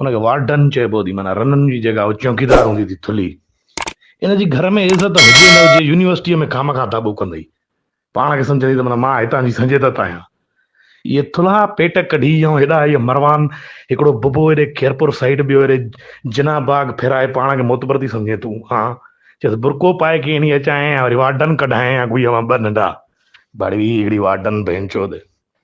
ان کي وارڊن چئبو ٿي معنيٰ رنن جي جيڪا چوڪيدار هوندي ٿي ٿلهي ان جي گهر ۾ عزت هجي نه هجي يونيورسٽيء ۾ خامخواه داٻو ڪندئي پاڻ کي سمجهندي ته معنيٰ مان هتان جي سنجيدت آهيان اهي ٿلها پيٽ ڪڍي يئون هيڏا هيء مروان هڪڙو ببو هيڏي خيرپور سائيڊ ٻيو هيڏي جناح باغ ڦيرائي پاڻ کي معتبر ٿي سمجهين تون ها چيس برقعو پائي ڪيئي ني اچائين يا وري وارڊن ڪڍائين يا ڪوئي اوهان ٻه ننڍا بڙوي هڪڙي وارڊن ڀينچود.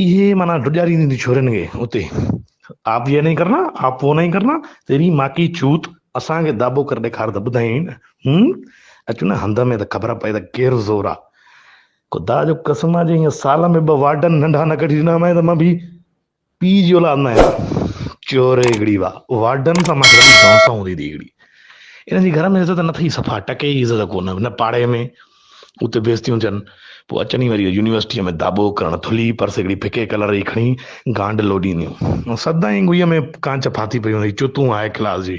اهي معنيٰ ڊڄارينديون ٿيون ڇورين کي اتي، آپ يي نهين ڪرنا، آپ وو نهين ڪرنا، تيري ماء ڪي چوت، اسان کي داٻو ڪري ڏيکار ته ٻڌايين نه، هم، اچ نه هنڌ ۾ ته خبر پئي ته ڪير زور آ. خدا جو قسم آ جي هينئن سال ۾ ٻه وارڊن ننڍا نه ڪڍي ڏنا هئائين ته مان به پيء جي اولاد نه آهيان. چور هڪڙي واهه، وارڊن سان مان کي وڏي دانهون سان هوندي ٿي هڪڙي. انهن جي گهر ۾ عزت نه اٿئي صفا ٽڪي جي عزت ڪونه، نه پاڙي ۾. اتي بيس ٿيون ٿين، پوء اچن ئي وري يونيورسٽيء ۾ داٻو ڪرڻ، ٿلهي پرس هڪڙي ڦڪي ڪلر جي کڻي گانڊ لوڏينديون. سدائين گوئيء ۾ ڪانچ ڦاٿي پئي هوندي هئي، چتون آهي ڪلاس جي.